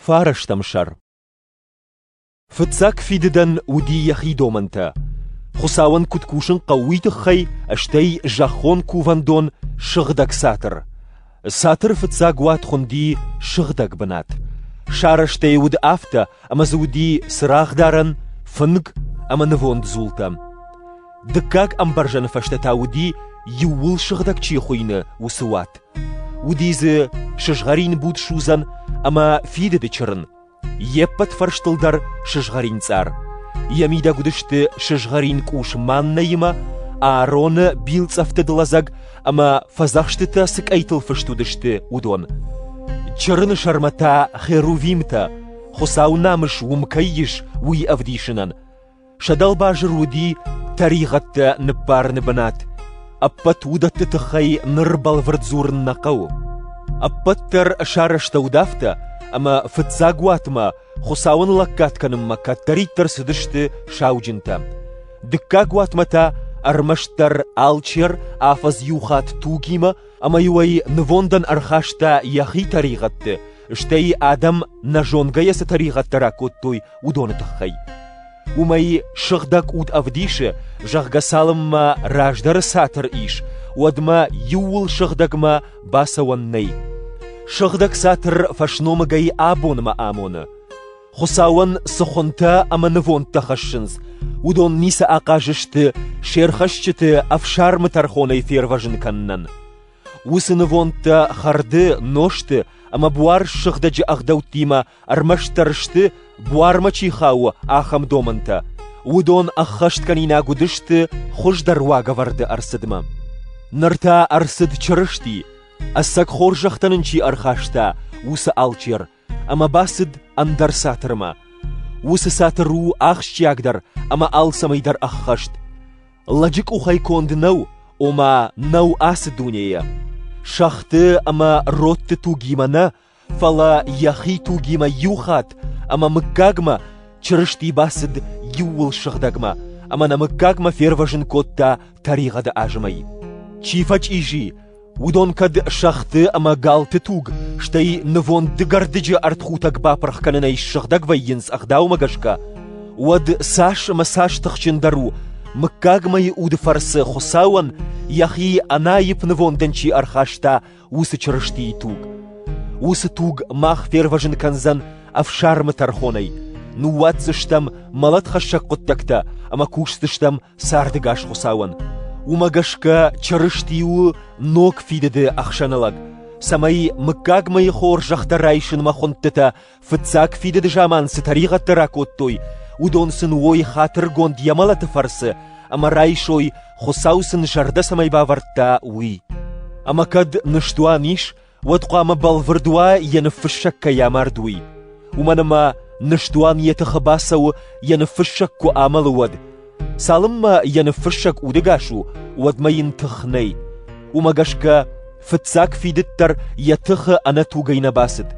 Фарастӕм сӕр Фыццаг фидыдӕн уыди йӕхи домӕнтӕ. Хуыцауӕн куыд кусын хъӕуы, уый тыххӕй, стӕй зӕххон кувӕндон Сыгъдӕг цатыр. Цатыры фыццаг уат хуынди сыгъдӕг бынат. Сарӕзтӕй уыд афтӕ, ӕмӕ дзы уыди цырагъдарӕн, фынг ӕмӕ нывонд дзултӕ. Дыккаг ӕмбӕрзӕны фӕстӕ та уыди, иууыл сыгъдӕг чи хуыйны, уыцы уат. Уыди дзы сызгъӕрин буд судзӕн ӕмӕ фидыды чырын, йе ппӕт фӕрстыл дӕр сызгъӕрин цъар. Йӕ мидӕг уыдысты сызгъӕрин къус Маннӕимӕ, Аароны билцъӕфтыд лӕдзӕг ӕмӕ фӕдзӕхстытӕ цы къӕйтыл фыст уыдысты, уыдон. Чырыны сӕрмӕ та херувимтӕ, Хуыцауы намыс уым кӕй ис, уый ӕвдисынӕн. Сӕ дӕлбазыр уыди тӕригъӕдтӕ ныббарыны бынат. Ӕппӕт уыдӕтты тыххӕй ныр бӕлвырд дзурын нӕ хъӕуы. Ӕппӕт дӕр сарӕзтӕуыд афтӕ, ӕмӕ фыццаг уатмӕ Хуыцауӕн лӕггад кӕнынмӕ кӕддӕриддӕр цыдысты сауджынтӕ. Дыккаг уатмӕ та ӕрмӕстдӕр алчер афӕдз иу хатт тугимӕ ӕмӕ-иу ӕй нывондӕн ӕрхаста йӕхи тӕригъӕдты, стӕй адӕм нӕ зонгӕйӕ цы тӕригъӕдтӕ ракодтой, уыдоны тыххӕй. Уымӕй сыгъдӕг уд ӕвдисы, зӕгъгӕ цалынмӕ раздӕры цатыр ис, уӕдмӕ иууыл сыгъдӕгмӕ бацӕуӕн нӕй. Сыгъдӕг цатыр фӕсномыгӕй абонмӕ амоны. Хуыцауӕн цы хуынтӕ ӕмӕ нывондтӕ хӕссынц, уыдон ницы ахъаз сты се рхӕсджыты ӕфсармы тӕрхонӕй фервӕзын кӕнынӕн. Уыцы нывондтӕ хӕрды, нозты ӕмӕ буар ссыгъдӕджы ӕгъдӕуттимӕ ӕрмӕстдӕр сты, буармӕ чи хауы, ахӕм домӕнтӕ. Уыдон ӕххӕсткӕнинаг уыдысты хуыздӕр уагӕвӕрды ӕрцыдмӕ. Ныр та ӕрцыд Чырысти, ӕцӕг хорзӕхтӕ нын чи ӕрхаста, уыцы алчер, ӕмӕ бацыд ӕндӕр цатырмӕ. Уыцы цатыр у ахсджиагдӕр ӕмӕ алцӕмӕйдӕр ӕххӕст. Лӕджы къухӕй конд нӕу, ома нӕу ацы дунейӕ. Сӕгъты ӕмӕ родты тугимӕ нӕ, фӕлӕ йӕхи тугимӕ иу хатт ӕмӕ мыггагмӕ Чырысти бацыд иууыл сыгъдӕгмӕ, ӕмӕ нӕ мыггагмӕ фервӕзын кодта тӕригъӕды азмӕй. Чи фӕчъизи, Уыдон кӕд сӕгъты ӕмӕ галты туг, стӕй нывонд дыгӕрдыджы ӕртхутӕг бапырх кӕнынӕй ссыгъдӕг вӕййынц ӕгъдаумӕ гӕсгӕ, уӕд цас ӕмӕ цас тыхджындӕр у, мыггагмӕйы уды фӕрцы Хуыцауӕн йӕхи ӕнаипп нывондӕн чи ӕрхаста, уыцы Чырыстийы туг. Уыцы туг мах фервӕзын кӕндзӕн ӕфсармы тӕрхонӕй, ныууадздзыстӕм мӕлӕтхӕссӕг хъуыддӕгтӕ ӕмӕ кусдзыстӕм Сӕрдыгас Хуыцауӕн. Уымӕ гӕсгӕ Чырысти у ног фидыды ӕхсӕнылӕг, цӕмӕй мыггагмӕйы хорзӕхтӕ райсынмӕ хуындтытӕ фыццаг фидыды заман цы тӕригъӕдтӕ ракодтой, уыдон сын уой хатыргонд йӕ мӕлӕты фӕрцы ӕмӕ райсой, Хуыцау сын зӕрдӕ цӕмӕй бавӕрдта, уый. Ӕмӕ кӕд ныстуан ис, уӕд хъуамӕ бӕлвырд уа, йӕ ныффыссӕг кӕй амард, уый. Уымӕн ӕмӕ ныстуан йӕ тыхы бацӕуы, йӕ ныффыссӕг куы амӕлы, уӕд. Цалынмӕ йӕ ныффыссӕг удыгас у, уӕдмӕ йын тых нӕй. Уымӕ гӕсгӕ фыццаг фидыд дӕр йӕ тыхы ӕнӕтугӕй нӕ бацыд.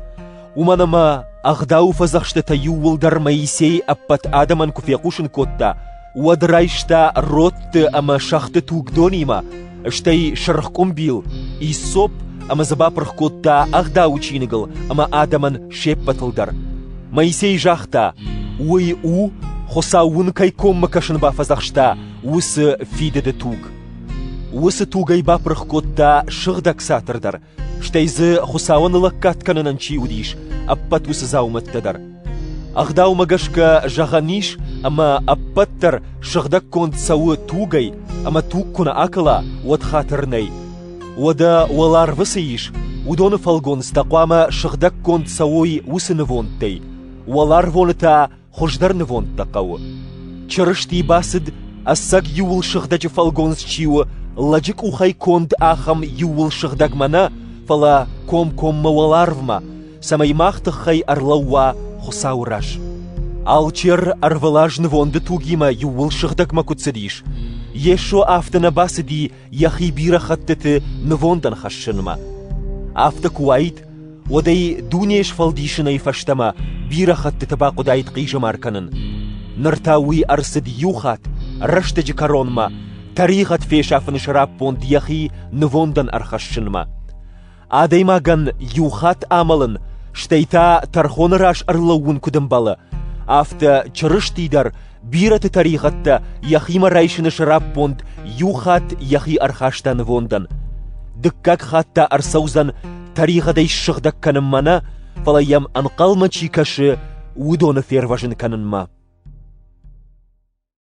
Уымӕн ӕмӕ ӕгъдауы фӕдзӕхстытӕ иууылдӕр Моисей ӕппӕт адӕмӕн куы фехъусын кодта, уӕд райста родты ӕмӕ сӕгъты тугдонимӕ, стӕй сырх къуымбил, иссоп ӕмӕ дзы бапырх кодта ӕгъдауы чиныгыл ӕмӕ адӕмӕн се ппӕтыл дӕр. Моисей загъта, уый у, Хуыцау уын кӕй коммӕ кӕсын бафӕдзӕхста, уыцы фидыды туг. Уыцы тугӕй бапырх кодта сыгъдӕг цатыр дӕр, Стӕй дзы Хуыцауӕн лӕггад кӕнынӕн чи уыдис, ӕппӕт уыцы дзаумӕттӕ дӕр. Ӕгъдаумӕ гӕсгӕ зӕгъӕн ис, ӕмӕ ӕппӕт дӕр сыгъдӕггонд цӕуы тугӕй, ӕмӕ туг куы нӕ акӕла, уӕд хатыр нӕй. Уӕдӕ уӕларвы цы ис, уыдоны фӕлгонц та хъуамӕ сыгъдӕггонд цӕуой уыцы нывондтӕй, уӕларвоны та Хуыздӕр нывондтӕ хъӕуы. Чырысти бацыд, ӕцӕг иууыл сыгъдӕджы фӕлгонц чи у, лӕджы къухӕй конд ахӕм иууыл сыгъдӕгмӕ нӕ, фӕлӕ комкоммӕ уӕларвмӕ, цӕмӕй мах тыххӕй ӕрлӕууа Хуыцауы раз. Алчер ӕрвылаз нывонды тугимӕ иууыл сыгъдӕгмӕ куы цыдис, Йесо афтӕ нӕ бацыди йӕхи бирӕ хӕттыты нывондӕн хӕссынмӕ. Афтӕ куы уаид, уӕд ӕй дунейы сфӕлдисынӕй фӕстӕмӕ бирӕ хӕттыты бахъуыдаид хъизӕмар кӕнын. Ныр та уый ӕрцыд иу хатт, рӕстӕджы кӕронмӕ, тӕригъӕд фесафыны сӕраппонд йӕхи нывондӕн ӕрхӕссынмӕ. Адӕймагӕн иу хатт амӕлын, стӕй та тӕрхоны раз ӕрлӕууын куыд ӕмбӕлы, афтӕ Чырысти дӕр бирӕты тӕригъӕдтӕ йӕхимӕ райсыны сӕраппонд иу хатт йӕхи ӕрхаста нывондӕн. Дыккаг хатт та ӕрцӕудзӕн тӕригъӕдӕй ссыгъдӕг кӕнынмӕ нӕ, фӕлӕ йӕм ӕнхъӕлмӕ чи кӕсы, уыдоны фервӕзын кӕнынмӕ.